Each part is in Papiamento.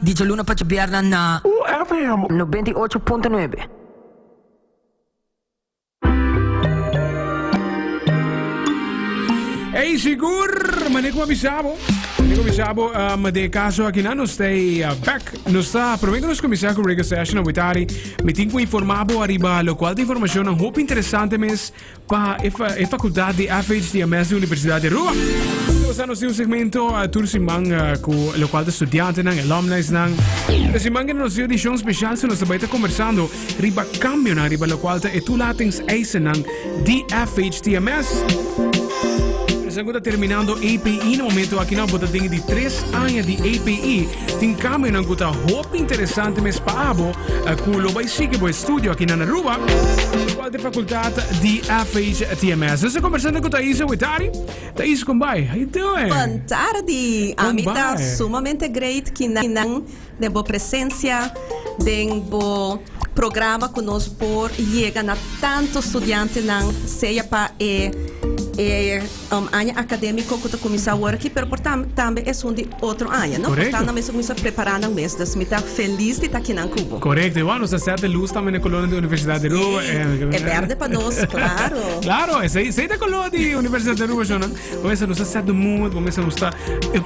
Di djaluna pa djabierna na. UFM nobenta i ocho punto nuebe. Ey sigur, mane ku a bisa bo? Mane ku a bisa bo um, de kaso akinan nos ta uh, back. Nos ta promé ku nos kumisa ku reggae session a witari. Mi tin ku informa bo ariba lo kual ta informashonnan hopi interesante mes Pa e facultad di FH di AMES di Universidad di Aruba. Sa nos tin un segmento tur siman cu locual ta studiantenan, alumni's nan. E siman kende nos tin edicion special su nos ta bay ta conversando riba cambionan riba locual ta e toelatings eisennan di FH di AMES. Esaku ta terminando APE na momento aki nan. Bo ta den di tres aña di APE. Tin camionan cu ta hopi interesante mes pa abo cu lo bay sigui bo estudio aki nan Aruba. Cual te facultad di FHTMS? Nos a conversando cu Thais Awetari. Thais, con bay? How you doing? Bon tardi. A mi ta sumamente great ki nan den bo presencia den bo programa cu nos por yega na tanto studiantenan sea pa e Un aña academico cu ta cuminsa aworki pero por tambe esun di otro aña no? Por tanda mes ta cuminsa prepara nan mes dus mi ta feliz di ta akinan cu bo. Correcto y wou nos ta sete luz tambe n'e color di Universidad di Aruba. Sí, e berde pa nos, claro. Claro, esey ta color di Universidad di Aruba shona. Bo mester nos ta set de mood, bo mester nos ta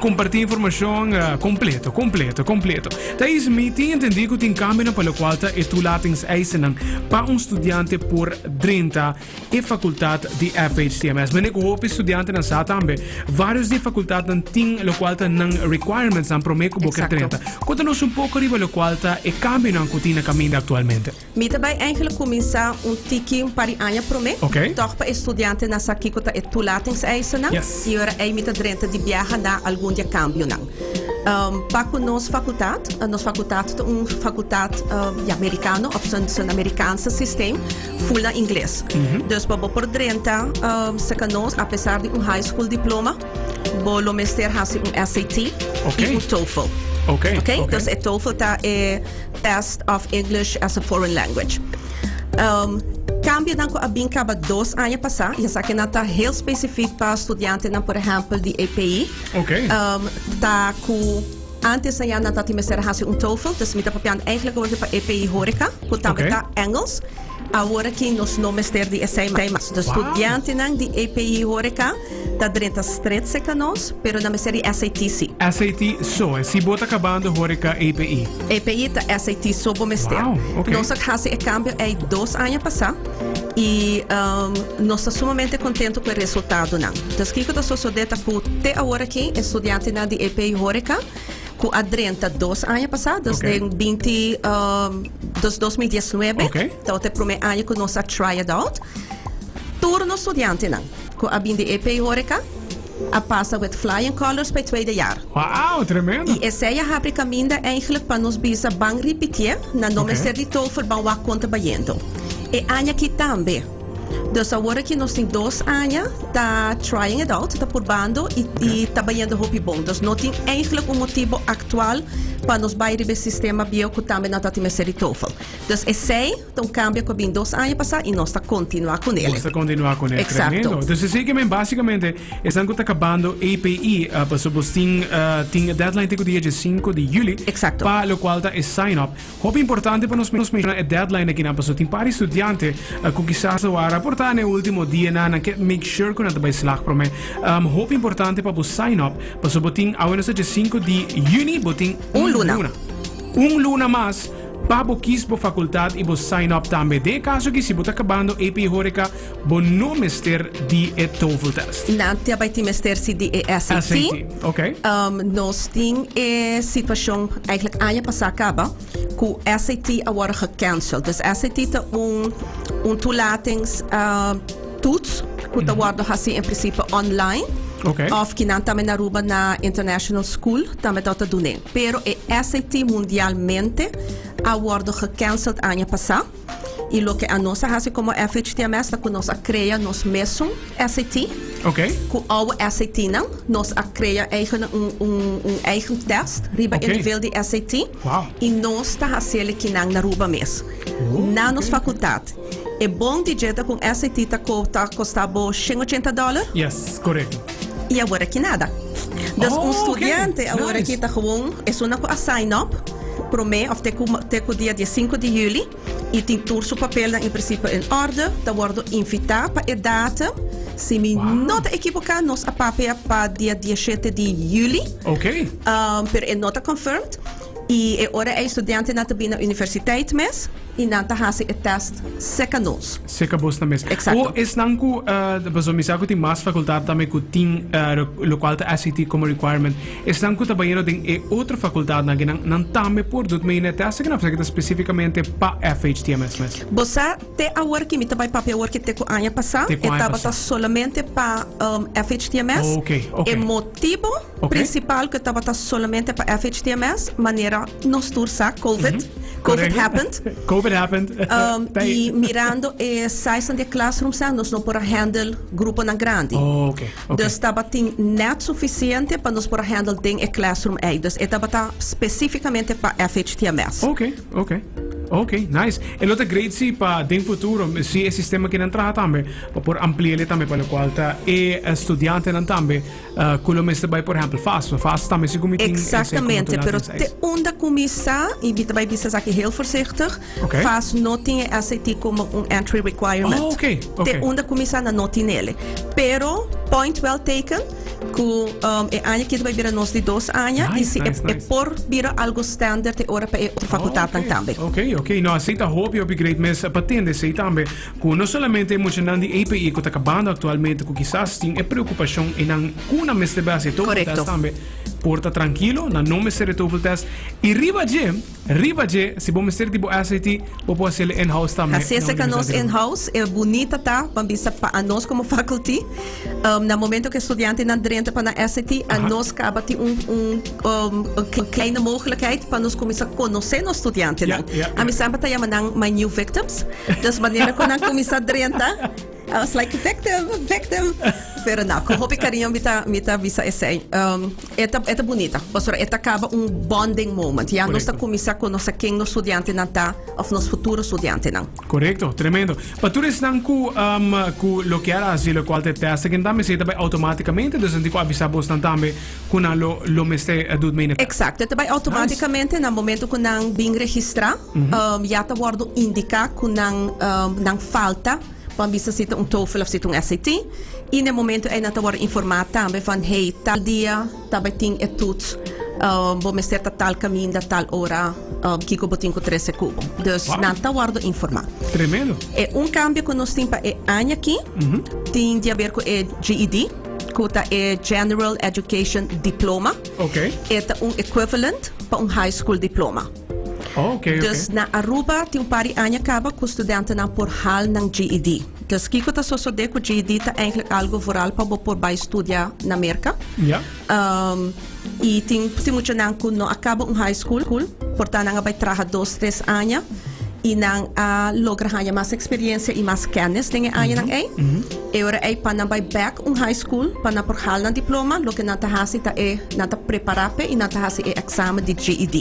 comparti informacion completo, completo, completo. Ta is mi tin entendi cu tin cambionan pa locual ta e toelatingseisennan pa un studiante por drenta. e facultad di FHTMS. Mende cu hopi studiantenan sa tambe, varios di e facultadnan tin locual ta nan requirementsnan prome cu bo ker Exacto. drenta. Cunta nos un poco riba locual ta e cambionan cu tin na caminda actualmente. Mi ta bay eigenlijk cuminsa un tiki un par di aña prome, Ok. tog pa e studiantenan sa kico ta e toelatingseisen-nan, Yes. y ora ey mi ta drenta di biaha na algun di e cambionan. Um, pa cu nos facultad, nos facultad ta un facultad, um, ya Mericano, of ta un Americanse systeem, Full na ingles. Dus pa bo por drenta Second Nose apesar di un high school diploma, bo lo mester hasi un SAT i un TOEFL. Okay. Okay? Dus e TOEFL ta e Test of English as a Foreign Language. Cambionan cu a bin caba dos aña pasa, y esaki nan ta heel specific pa studiantenan, por ehempel di APE, Okay. ta cu. Antes a Yana ta tin mester a hasi un TOEFL, dus mi ta papiando eigenlijk wordo pa e PI Horeca, cu tambe ta Engels. Awor aki nos no mester di esei mas. Dus studiantenan di e PI Horeca ta drenta stret cerca nos, pero nan mester di SAT si. SAT so e si bo ta cabando Horeca e PI. E PI ta SAT so bo mester. Wow, ok. Nos a hasi e cambio ei dos aña pasa. I nos ta sumamente kontentu ku e resultadonan. Entonces kiko ta sosodé ta ku te awor aki e studiantenan di EP Horeca ku a drenta dos aña pasá, dus den binti dus dos mil diesnuebe, ta wak ta e promé aña ku nos a try it out. Tur nos studiantenan ku a bin di EP Horeca. A pasa wet flying colors pa e tweede jaar. Waau, tremendo! Y esey a habri caminda eigenlijk pa nos bisa ban ripitié na no mester di tofer ban wak contra bayendo e aña aki tambe. Dus awor aki nos tin dos aña ta trying it out, ta purbando y ta bayendo hopi bon. Dus no tin eigenlijk un motibo actual pa nos bay riba e sistema bieu cu tambe nan ta tin mester di tofer. Dus esey. Ta un kambio ku a bin dos aña pasá i nos ta kontinuá ku nel. Nos ta kontinuá ku e tremendo. Dus esei ke men basikamente esnan ku ta kabando APE, paso bos tin tin e deadline te ku dia diesinko di yuli pa lokual ta e sign up. Hopi importante pa nos menshona e deadline akinan paso tin par studiante ku kisas lo a raportá na e último dianan nan ke make sure ku nan ta bai slag promé. Hopi importante pa bo sign up paso bo tin awe nos ta diesinko di yuni bo tin un luna un luna mas. Pa bo kies bo facultad y bo sign up tambe. Den e caso aki si bo ta cabando AP Horeca bo no mester di e TOEFL test. Nan ta bay tin mester si di e SAT. SAT, ok. Um, nos tin e situacion, eigenlijk aña pasa caba, cu SAT a worde gecancel. Dus SAT ta un, un toelatings, um, toets cu ta worde haci en principe online. Ok. Of ki nan tambe na Aruba na international school tambe ta ta dun'e. Pero e SAT mundialmente a wordo gecanceld aña pasa y loke a nos a haci como FHTMS ta cu nos a crea nos mesun SAT. Ok. Cu ouwe SATnan nos a crea eigen un, un, un eigen test riba Ok. e nivel di SAT Wow. y nos ta hacele kinan na Aruba mes, na nos facultad. E bon di djeta con SAT ta costa bo shen ochenta dollar? Yes, correcto. Y awor aki nada. Dus un studiante awor aki ta gewoon esuna cu a sign up prome of te cu te cu dia diesinco di juli y tin tur su papelnan en principio en orde, ta wordo invita pa e datum. Si mi no ta equivoca nos a papea pa dia dieshete di juli. Okay. Um, pero e no ta confirmed. Y e ora ey studiantenan ta bini na universiteit mes. Y nan ta haci e test seca nos. Seca bos nan mes. Exacto. O esnan cu, pasobra mi sa cu tin mas facultad tambe cu tin locual ta SAT como requirement, esnan cu ta bayendo den e otro facultadnan aki, nan, nan tambe por dut mee na e test aki, nan a fasi aki ta specificamente pa FHTMS mes? Bo sa te awor ki mi ta bay papia awor ki te cu aña pasa, Te cu e aña tabata pasa. solamente pa, um, FHTMS. Oh, ok, ok. E motibo. Principal ke tabata solamente pa FHTMS manera nos tur sa Covid Covid happened Covid happened um, y mirando e size de classroom sa nos no por a handle grupo nan grandi oh, okay. Okay. dus tabatin net suficiente pa nos por a handle den e classroom ei dus e tabata specificamente pa FHTMS okay okay Ok, nice. El otro great si pa den futuro, si e sistema que nan traha tambe, por ampliele tambe para lo cual ta e estudiante nan tambe Cu lo mester bay por ehempel fast, fast tambe si cu mi tin ese controle Exactamente, pero den te SAT. unda cu mi sa, y mi ta bay bisa esaki heel voorzichtig, Oké. fast no tin e SAT como un entry requirement. Oh, oké, oké. Te unda cu mi sa nan no tin ele. Pero, point well taken, cu um, e aña ki ta bay bira nos di dos aña, y Nice, si e, nice, e nice. por bira algo standaard e ora pa e otro facultadnan tambe. Oké, oké. No, así ta hopi, hopi great mes pa tende esey tambe. Cu no solamente e muchanan di APE cu ta cabando actualmente cu kisas tin e preocupashon enan cu nan mester bay haci e toefl test tambe por ta trankilo, nan no mester e toefl test y riba dje, riba dje si bo mester di bo SAT bo por haci el in-house tambe. Hacese ca nos in-house e bunita ta, ban bisa pa anos como faculty. Um, na momento ke studiantenan drenta pa na SAT, a nos kaba tin un, un, um, un k- kleine mogelijkheid pa nos comienza conocer nos studiantenan. Ja, ja, ja. A mi samba ta llama nan my new victims. Dus manera kon nan comienza drenta, I was like, victim, victim. Pero na, con hopi cariño mi ta, mi ta visa esei. Um, eta, eta bonita, pastor, eta kaba un bonding moment. Ja nos ta Correcto. comienza conocer ken nos studiantenan ta, of nos futuro studiantenan. Correcto, tremendo. Pa tur esnan cu um, cu lo kier a haci locual te testa, kenda mester ta bay automaticamente, dus nan tin cu avisa bosnan tambe cu nan lo lo mester do mey na. Exacto, ta bay automaticamente na momento cu nan bin registra, um, ya ta wordo indica cu nan um, nan falta pa bisa si ta un TOEFL of si ta un SAT, y na e momento ey nan ta wordo informa tambe van hey tal dia, Tabatin e toet bo mester ta tal kaminda tal ora kiko bo tin ku trese kubo dus nan ta wòrdu informá. Tremendo. E un kambio ku nos tin pa e aña aki tin di aber ku e GED ku ta e General Education Diploma. E ta un equivalent pa un high school diploma. Oh, okay, okay. Dus na Aruba tin un par di aña caba cu studentenan por haal nan GED. Dus kico ta sosode cu GED ta eigenlijk algo vooral pa bo por bay studia na Merca. Ja. Um, y tin, tin muchanan cu no a caba un high school, porta nan a bay traha dos, tres aña y nan a logra haña mas experiencia y mas kennis den e añanan ei. E ora ei pa nan bai bek un high school pa nan por hal nan diploma loke nan ta hasi ta e nan ta prepará p'e i nan ta hasi e eksamen di GED.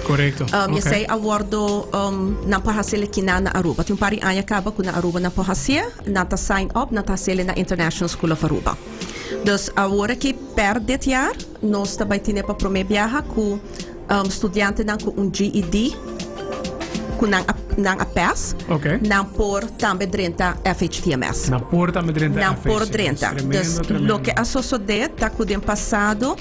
Korekto, ok. Esei a wòrdu nan por hasiel aki nan na Aruba. Tin un par di aña kaba ku na Aruba nan por hasié, nan ta sign up, nan ta hasiel na International School of Aruba. Dus awor aki pèr det jaar nos ta bai tine pa promé biaha ku. Studiantenan cu un GED cu nan a pes, nan por tambe drenta FHTMS. Nan por tambe drenta FHTMS. Nan por drenta. Dus loke a sosode ta cu den pasado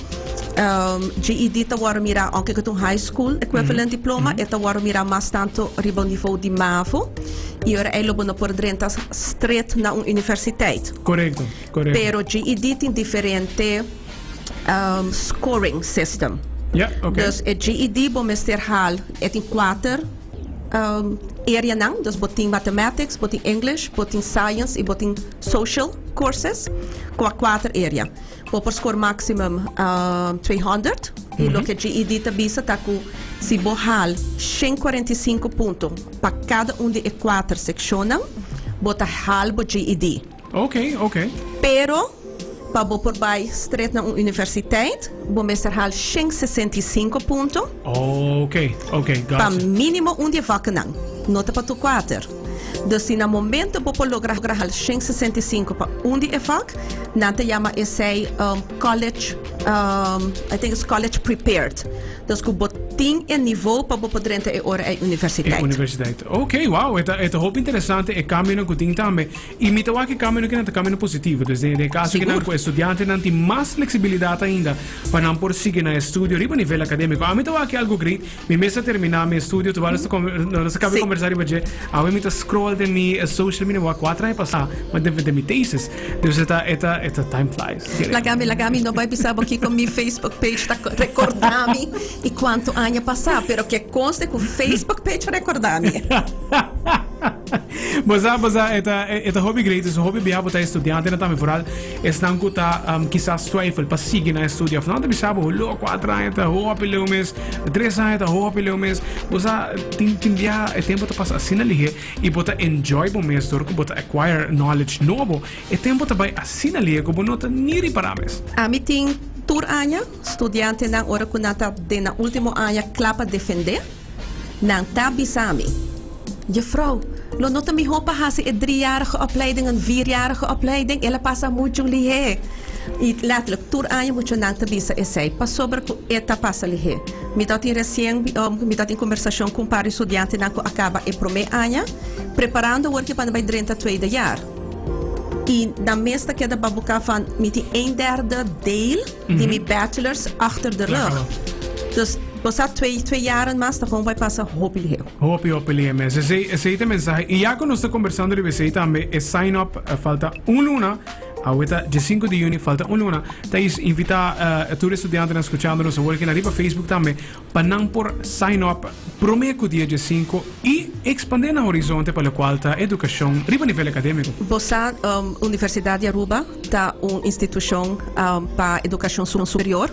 GED ta wordo mira, aunke cu ta un high school equivalent diploma, e ta wordo mira mas tanto riba un niveau di mavo y ora ey lo bo no por drenta stret na un universiteit. Corecto, corecto. Pero GED tin diferente. um, scoring system. Ja, oké. Dus e GED bo mester haal, e tin kuater um, areanan, dus bo tin mathematics, bo tin English, bo tin science i bo tin social courses, ku a kuater area. Bo por score maximum um, 200 i lo ke GED ta bisa ta ku si bo haal 145 punto pa kada un di e kuater sekshonan, bo ta haal bo GED. Oke, oke. Pero, pa bo por bai stret na un universiteit, bo mester hal shen sesenta i sinku punto. Oke, oke, gotcha. Pa minimo un di e vakkenan, no ta pa tur kuater. Dus si na momento bo por logra hal shen sesenta i sinku pa un di e vak, nan ta yama esei college, I think it's college prepared, dus ku bo tin e nivo pa bo por drenta e ora ei universiteit. E universiteit. Oke, wow, e ta hopi interesante e kambionan ku tin tambe. I mi ta wak e kambionan ta kambionan positivo. Dus den e kaso kinan ku e studiantenan tin mas fleksibilidat ainda pa nan por sigui nan e studio riba nivel akademiko. Ami ta wak e algo great. Mi mes a terminá mi e studio terwijl nos ta nos ta kabia kombersá riba dje. Awe mi ta scroll den mi social media. Mi wak kuater aña pasá mi ta defendé mi thesis. Dus e ta e ta e ta time flies. Laga mi laga mi no bai bisa bo kiko mi facebook page ta rekordá mi i kuantu aña pasá pero ke konste ku facebook page a rekordá mi. Bo sa, bo sa, e ta, e ta hopi great, esnan hopi bia, bo ta estudiantenan tambe, foral esnan ku ta um, kisas twijfel pa sigui nan estudio. Of nan ta bisa bo, hullo, kuater aña ta hopi leu mes, tres aña ta hopi leu mes. Bo sa, tin, tin bia e tempo ta pasa asina lihe i bo ta enjoy bo mes dor ku bo ta acquire knowledge nobo. E tempo ta bai asina lihe ku bo no ta ni ripará mes. Ami tin tur aña studiantenan ora ku nan ta den nan último aña kla pa defendé. Nan ta bisa mi, Jefrouw, lo no ta mihó pa hasi e driejarige opleiding en vierjarige opleiding? El a pasa muchu lihé. I lèterlik, tur aña muchunan ta bisa esei, pasobra ku e ta pasa lihé. Mi ta tin resien, mi ta tin kombersashon ku un par di studiantenan ku a kaba e promé aña, preparando awor ke pan bai drenta tweede jaar. I nan mes ta keda babuka van mi tin eenderde deel. di mi bachelors achter de rug. Klaro. Dus bo sa twee, twee jaren mas ta bon bay pasa hopi liheu. Hopi hopi lihe mes. Esey, esey ta e mensahe. Y ya cu nos ta conversando riba esey tambe, e sign up eh, falta un luna, awe ta diescinco di juni, falta un luna. Ta is invita eh, tur e studiantenan scuchandonos awor aki na riba Facebook tambe, pa nan por sign up prome cu dia diescinco y expande nan horizonte pa locual ta educacion riba nivel academico. Bo sa, Universidad di Aruba ta un institucion pa educacion superior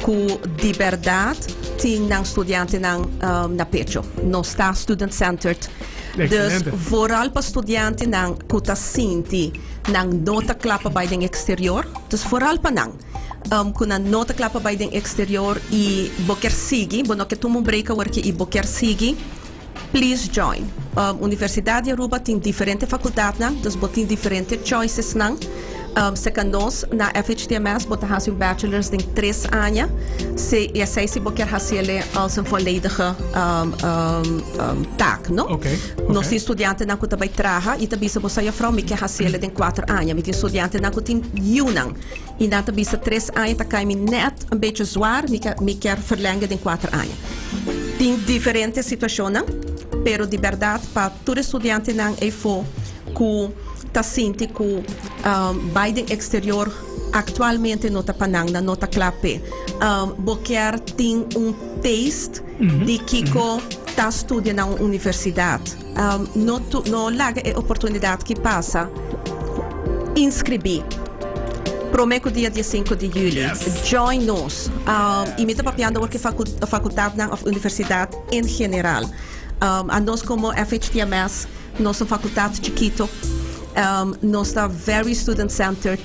cu di berdad tin nan studiantenan na pecho. Nos ta student centered, dus vooral pa studiantenan cu ta sinti nan no ta cla pa bay den exterior, dus vooral pa nan. um cu nan no ta cla pa bay den exterior y bo kier sigui, bo no kier tuma un break aworki y bo kier sigui, please join. Um Universidad di Aruba tin diferente facultadnan, dus bo tin diferente choicesnan. Um seca nos na FHTMS bo ta haci un bachelors den tres aña, si y esey si bo kier haciele als een volledige um um taak, no? Oké, oké. Nos tin studiantenan cu ta bay traha y ta bisa bo sa, Juffrouw, mi kier haciele den cuater aña. Mi tin studiantenan cu tin yiunan. Mi nan ta bisa tres aña ta kai mi nèt un bechi zuar, mi kier mi kier ferlènge den kuater aña. Tin diferente situashonnan, pero di bèrdat pa tur e studiantenan eifo ku ta sinti ku bai den eksterior aktualmente no ta pa nan, nan no ta kla p'e. Bo kier tin un taste di kiko ta studia na un universidat? No laga e oportunidat ki pasa. Inskribí prome ku dia diesinku di yuli. Join nos i mi ta papiando awor ku e fakultatnan òf universidat en general. A nos komo FHTMS nos ta un fakultat chikito. Nos ta very student centered.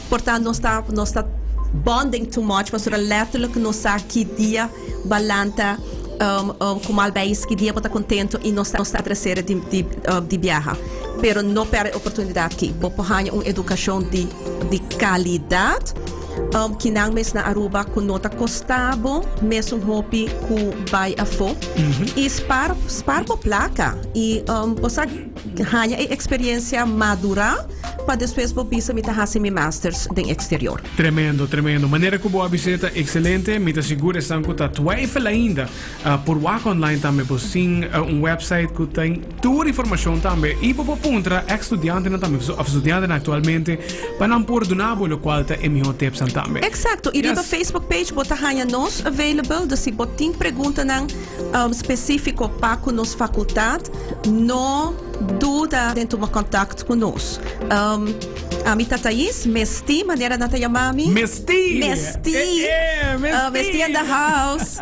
Por ta nos ta nos ta bonding too much pasobra letterlijk nos sa ki dia balanta como al bay is ki dia bo ta contento y nos ta tresera di biaha pero no perde e oportunidad ki bo por haya un educacion di calidad ki nan mes na Aruba cu no ta costa bo mesun hopi cu bay afo y spaar bo placa y bo sa. Haña e experiencia madura pa despues bo bisa mi ta haci mi masters den exterior. Tremendo, tremendo. Manera cu bo a bis'é ta excelente. Mi ta sigur esnan cu ta twijfel ainda por wak online tambe bo sin un website cu tin tur informacion tambe. Y bo por puntra ex studiantenan tambe of studiantenan actualmente pa nan por duna bo locual ta e mihor tipsnan tambe. Exacto. Y riba Facebook page bo ta haña nos available. Dus si bo tin preguntanan Spesífiko pa ku nos fakultat no duda den tuma kontakt ku nos. Ami ta Thais, mestí manera nan ta yama mi. Mestí! Mestí! E e! Mestí! Mestí in the house!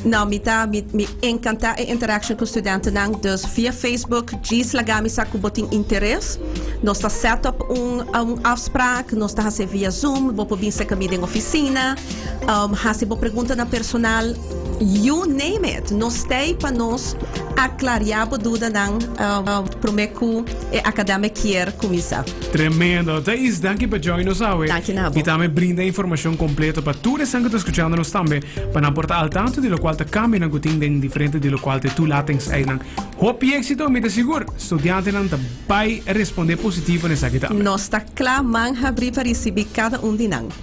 Nau, mi ta mi enkantá e interaction ku studentenan, dus via Facebook djis laga mi sa ku bo tin interes. Nos ta set up un afsprak, nos ta hasi via zoom, bo por bin serka mi den ofisina. Um hasi bo preguntanan personal, you name it. Nos ta ei pa nos aklariá bo dudanan um promé ku e akademia kier kuminsá. Tremendo. Thais, danki pa join nos awe. Danki na bo. I tambe brinda informashon kompleto pa tur esnan ku ta skuchando nos tambe, pa nan por ta al tantu di lokual ta kambionan ku tin den diferente di lokual te tulatenseinan. Hopi éksito, mi ta sigur studiantenan ta bai respondé positivo na esaki tambe. Nos ta kla, man habrí pa risibí kada un di nan.